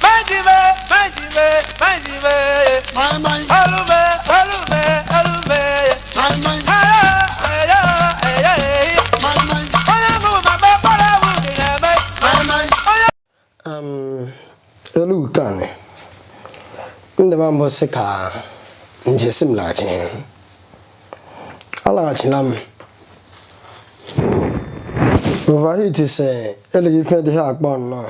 Manjime, manjime, manjime. Alume, alume, alume. Aya, aya, aya. Onye mụ mama kpọrọ awụ dị na-eme. elu nke anyị ndị ma mbụ sị ka njesi m laghachi alaghachila m overheat si eleghị ife dị ha akpọ nnọọ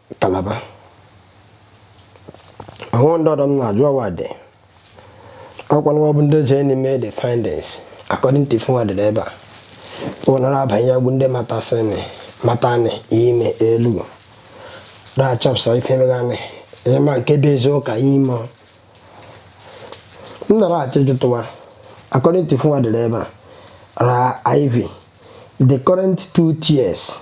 Kalaba. Ahụ ndị ọdọ m na-ajụ ọwa dị. Ọkwa ụnụwa bụ ndị jenị mee the findings according to ife wa dere ebe a. Ụnara abanye ya bụ ndị matasịnị matanị ime Elu. Ra chọpụsa ife meghanị ịma nke bụ eziụka ime. M nara achọ ịjụtụ wa according to ife wa dere ebe a. Ra Ivy the current two tiers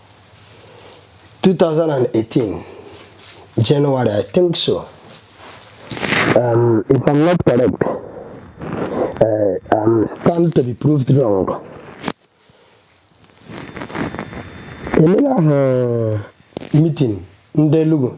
2018 January I think so um, if I'm not correct uh, I'm stand to be proved wrong emela ahụ meeting ndị Enugu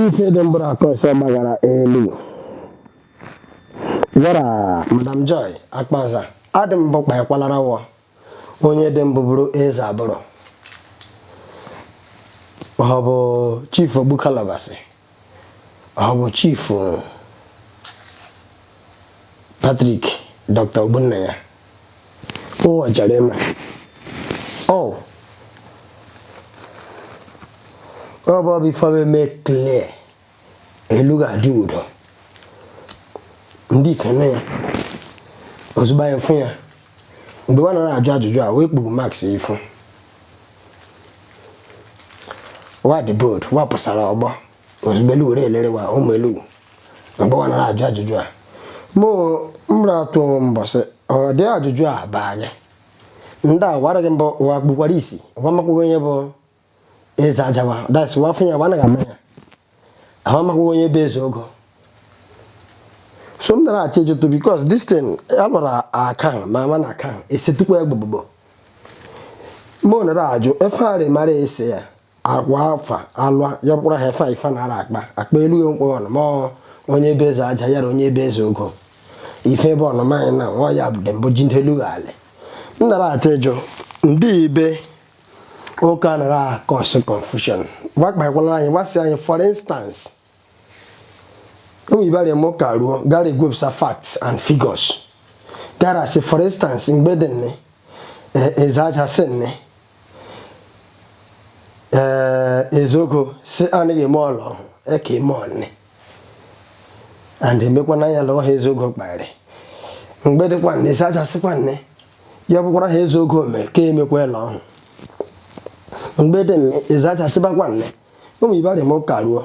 Ise dị mbụrụ aka ọsọ gbagara Elu. Yara Madam Joy Akpaza adị mbụ kpaekwalara wọ onye dị mbụ bụrụ eze abụrụ ọ bụ chief Ogbukalabasị ọ bụ chief Patrick Dr. Ogbonnaya ụwa chọrọ ịma ọ ọ bụ ọbụ ife a ma-eme klee Elu ga-adị udo ndị ife nne ya ozugbo anyị fụ ya mgbe wa nara ajụ ajụjụ a wee kpuru mask ifu wa dị bold wa pụsara ọgbọ ozugbo Elu were elere wa ime Elu mgbe wa nara ajụ ajụjụ a mụ nara atụ onwe mbọsị ọdị ajụjụ a bụ anya ndị a wara gị mbọ wa gbukwara isi wa makwaghị onye bụ eze aja wa that's wa afụ ya wa anaghị ama ya ahụ amakwaghị onye bụ eze ogo so m nara achọ ịjụtụ because this thing alụrụ akan ma ama na akan esetukwa egbogbo mụ nara ajụ ife arị mara ese ya agwa afa alwa ya bụkwara ha efe ife na ara akpa akpa Elu ya mkpọ ọnụ ma onye bụ eze aja yara onye bụ eze ogo ife ebe ọnụ maanyị na nwa ya bụ dembo ji ndelu ala m nara achọ ịjụ ndị ibe ụka nara cause confusion gwakpakwala anyị gwasị anyị for instance ụmụ ibe arịa mụ ka ruo gara ewepụsa facts and figures gara asị for instance mgbe dị nne eze aja sị nne eze ogo si anaghị eme ele ọhụ eke eme ọnne and emekwa na ya lụọ ha eze ogo kparị mgbe dịkwa nne eze aja sịkwa nne ya bụkwara ha eze ogo mee ka emekwa ele ọhụ mgbe dị nne eze aja sịbakwa nne ụmụ ibe arịa m ụka ruo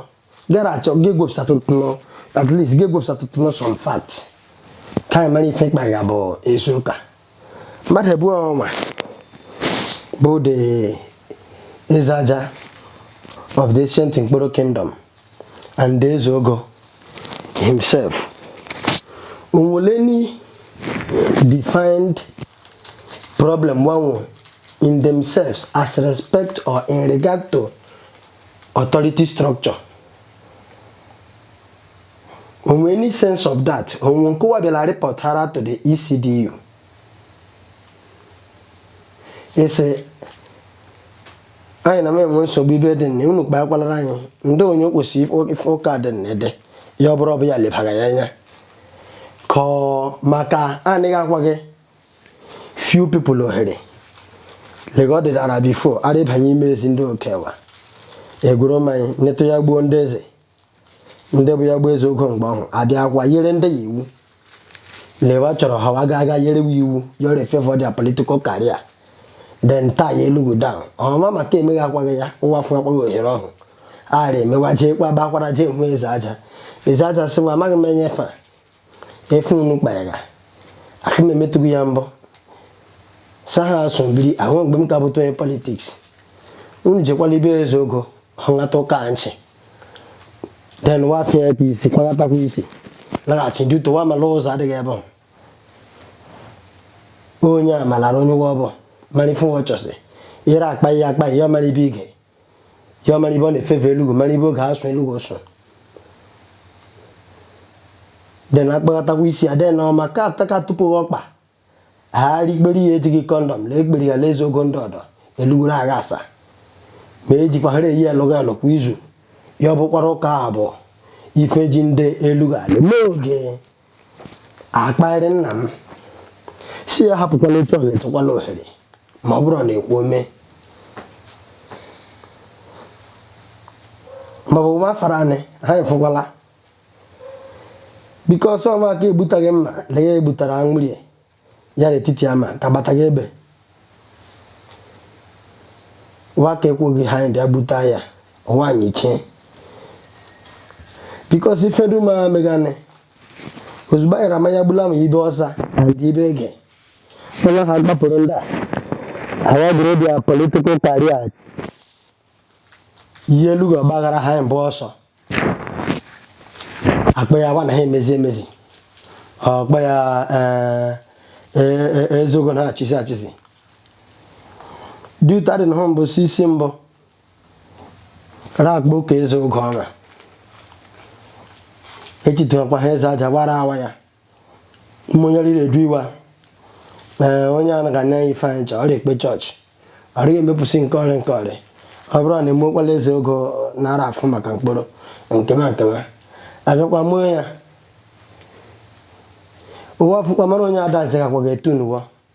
gara achọ gị gwepụsatụtụ nọ at least gị gwepụsatụtụ nọ some facts ka anyị mara ife mkpa ga bụ ezi ụka mmadụ abụọ nwa bụ the Ezeaja of the ancient Nkporo kingdom and the Ezeogo himself onwele any defined problem wa nwe in themselves as respect or in regard to authority structure onwe any sense of that onwe nke wa bịara reportara to the ECDU sị anyị na-enwe nsogbu ibe dị nne unu kpaa kwalara anyị ndị onye kwesịrị ụka dị nne dị ya ọ bụrụ ọbụ ya lebara ya anya ka ọ maka anaghị akwa gị few people ohere lega ọ dịdara before ara ịbanye ime ezi ndị okewa egwuru mmanya netụ ya gbuo ndị eze ndị bụ ya gbuo Ezeogo mgbe ọhụrụ abịa akwa yere ndị ya iwu le wa chọrọ ha wa ga-aga yere wa iwu yọrọ favour their political career then taa ya Elughu down ọma maka emeghị akwaghị ya wa fụ akwaghị ohere ọhụ ara eme wa jee kpa ba akwara jee hụ Ezeaja Ezeaja sị wa amaghị m enye ife a ife unu kpayara aka m emetụghị ya mbọ sa ha asụ biri ahụ mgbe m ka bụta onye politics unu jekwala ibe Ezeogo hụlata ụka nchị then wafia apc kwalatakwa isi laghachi duto wa mala ụzọ adịghị ebe ahụ onye a malara onye ụwa ọ bụ mara ife ụwa chọsị ire akpa ihe akpa ihe ọmara ibe ige ihe ọmara ibe ọ na-efefe Elughu mara ibe oge asụ Elughu sụ then akpaghatakwa isi ya then ọma ka ataka tupu ọkpa ha rikpere ya ejighị kọndọm lee ekpere ya le Ezeogo ndị ọdọ Elughu ra agha asa ma ejikwa ha eyi alụghị alụ kwa izu ya ọ bụkwara ụka abụọ ife ji ndị Elughu alụ n'oge akparị nna m si ya hapụkwala otu ọ na-etekwala ohere ma ọ bụrụ ọ na-ekwu ome maọbụ nwa afara anị ha efukwala because ọ maka egbutaghị mma na ya egbutara anwụrie ya n'etiti ama ka bata gị ebe wa ka ekweghị ha anyị bịa bute ya nwaanyị chi because ifedu ma megane ozugbo anyị ra mmanya gbula ma ibe ọsa dị ibe ege onye ha gbapụrụ ndị a awa bụrụ bịa political career ihe elugo gbaghara ha mbụ ọsọ akpa ya agba na ha emezi emezi ọkpa ya eh, eh, eh, eze ogo na echisi echisi duta dị na ha mbụ si isi mbụ rakpo ka eze ogo ọma echitekwa ha eze aja gbara awa ya mmonyere na-edu iwe a ee onye a naghị anya ife anyị chọọ ọ rị ekpe chọọchị ọrịa emepụsị nke ọrịa nke ọrịa ọ bụrụ na emekwala eze ogo nara afụ maka mkpụrụ nkema nkema abịakwa mụọ ya ụwa fụkwa mara onye adansi gakwa ga-etu n'ụwa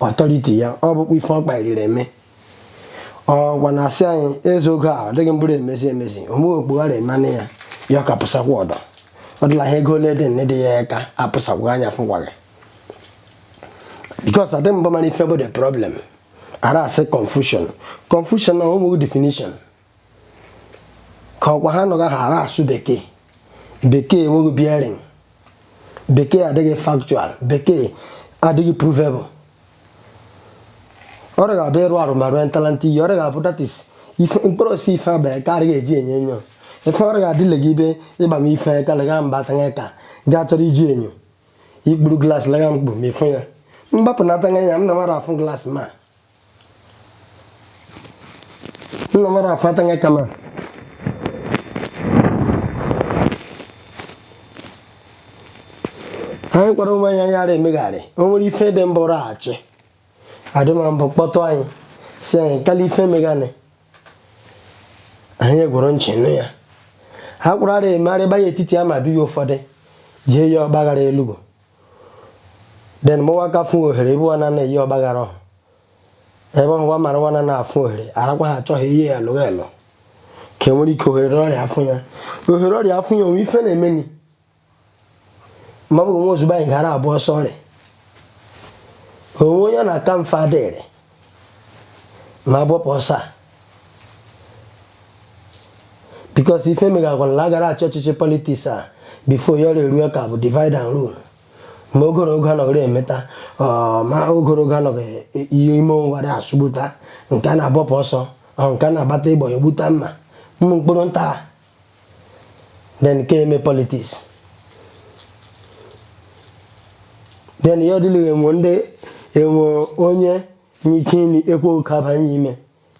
authority ya ọ bụkwa ife ọ kpairiri eme ọgwa na asị anyị eze ogo a ọ dịghị mbụrụ emezi emezi omume okpughara emanụ ya ya ọ ka pụsakwa ọdọ ọ dịla ha gold nne dị ya aka apụsakwa anya fụkwaghị because adị mbụ mara ife bụ the problem ara asị confusion confusion no definition ka ọkwa ha nọga ha ara asụ bekee bekee enweghị bearing bekee adịghị factual bekee adịghị provable ọrịa ga-abụ ịrụ arụ ma rụọ ntalanta iyi ọrịa ga-abụ that is mkpụrụ osisi ife abịa ka adịghị eji enyo enyo ife ọrịa ga-adịle gị ibe ịgba m ife ka lega mba tanya ka gaa chọrọ iji enyo i kpuru glaasị lega mkpu ma ịfụ ya mgbapụ na atanya ya m na mara afụ glaasị ma Ina mara fatan ya kama. anyị kwara ụmụ anyị ara emegharị o nwere ife dị mbụ raghachi adịma mbụ kpọtụ anyị si anyị kala ife meghanị anyị egerụ nchị nụ ya ha kwara ara emegharị banye etiti madụ ya ụfọdụ jee ya ọgbaghara elugo then mụwa ka fụ ohere ebe wana na-eyi ọgbaghara ọhụ ebe ọhụwa mara wana na-afụ ohere arakwa ha achọghị ihe ya lụghị elụ ka e nwere ike ohere ọrịa afụ ya ohere ọrịa afụ ya o nwe ife na-emeni ma ọ bụghị nwa ozugbo anyị gara abụ ọsọ ọrịa onwe onye na-aka mfe adịrị ma agbapụ ọsọ a because ife megagwara na agara achị ọchịchị politics a before ya ọrịa eruo ka bụ divide and rule ma ogoro oge anọghịrị emeta ma ogoro oge anọghị ihe ime ụwarị asụgbuta nke a na-agbapụ ọsọ nke a na-agbata ịgbọ ya gbuta mma ụmụ mkpụrụ nta then nke eme politics then ya ọdịlụ enwe ndị enwe onye nyike nri ekwe oke abanye ime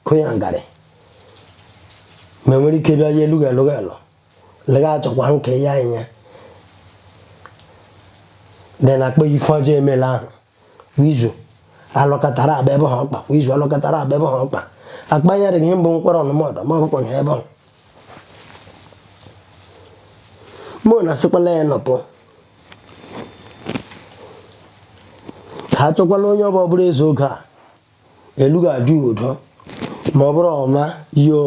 kụnya ngarị ma enwere ike bịa ya elughị elụghị elụ lega achọkwa nke ya anya then akpa ife ọjọọ emela ahụ kwa izu alọkọtara gbaa ebe ahụ mkpa kwa izu alọkọtara gbaa ebe ahụ mkpa akpanyere gị mbụ nkwere ọnụmọdụ ma ọ bụkwa ebe ahụ mụ na asịkwala ya nọpụ ka a chọkwala onye ọbụla bụrụ eze oge a Elugwu adị udo ma ọ bụrụ ọma yo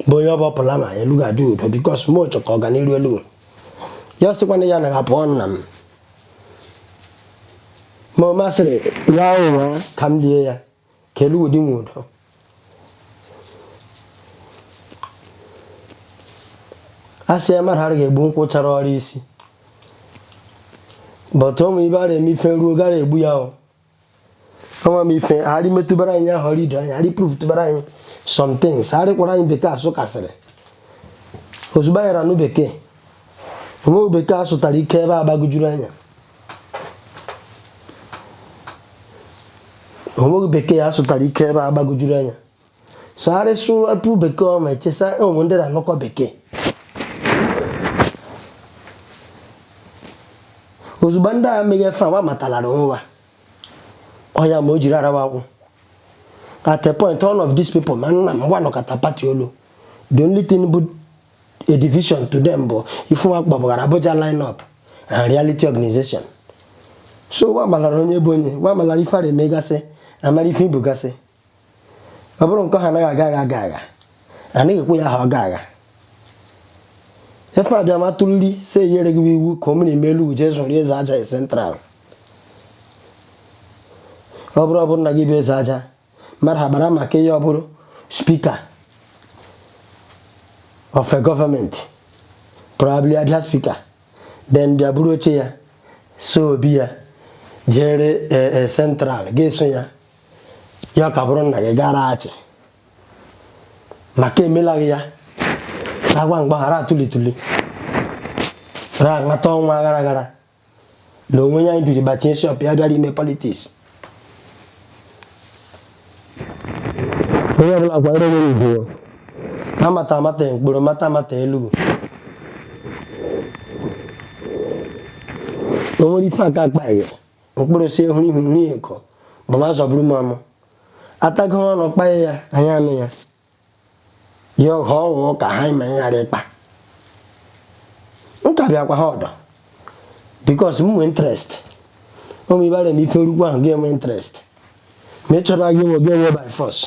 bụ onye ọ bụpụla ma Elugwu adị udo because m chọkọ ọganiru Elugwu ya sịkwana ya na apụọ nna m ma ọ masịrị ya nwụọ ka m lie ya ka Elugwu dị nwe udo a sị ya mmadụ adịghị egbu nkwụ chara ọra isi but ụmụ ibe a na-eme ife ruo gara egbu ya ọ ọnwa m ife ha rị metụbara anyị ahụ ọrụ ido anyị ha rị prove tụbara anyị some things ha rịkwara anyị bekee a sụkasịrị ozugbo anyị ra-anụ bekee o nweghị bekee a sụtara ike ebe a gbagojuru anya o nweghị bekee a sụtara ike ebe a gbagojuru anya sụgharị sụrapụ bekee ọma echesa ụmụ ndị na-anụkọ bekee ozugbo ndị a mega ife wa matalara nwa ọya ma o jiri arawa akwụ at a point all of these people ma nna m wa nọkọta party olu the only thing bụ a division to them bụ ife wa kpọbụghara Abuja line up and reality organization so wa malara onye bụ onye wa malara ife a ra-emegasị amara ife ibugasị ọ bụrụ nke ha anaghị aga aga aga aga anaghị ekwe ya ha ọ ga-aga ife a bịa ma tụliri si eyere gị iwu ka o mere ime Elugwu jee zụrụ eze aja central ọ bụrụ ọ bụrụ na gị bụ eze aja mmadụ ha gbara maka ihe ọ bụrụ speaker of government probably abịa speaker then bịa bụrụ chair so ọ bụ ya jere central ga-eso ya ya ka ọ bụrụ nna gị gara achị maka emelaghị ya agwa mgbaghara atụlitụli ra Amata ọnwa gara gara na onwe ya anyị biri gbachie shop ya bịara ime politics onye ọbụla kwanyere onwe ugwu Amata Amata mkpụrụ Amata Amata Elugwu o nwere ife aka akpa gị mkpụrụ si ehuru ihu nri eko bụ ma zọburu m amụ atago ọnụ kpaye ya anyị anụ ya ya ọghọ ọghọ ka ha ma anyị ghara ịkpa nka bịakwa ha ọdọ because m nwee interest ụmụ ibara m ife orukwu ahụ ga-enwe interest ma ị chọrọ gị nwe gị enwe by force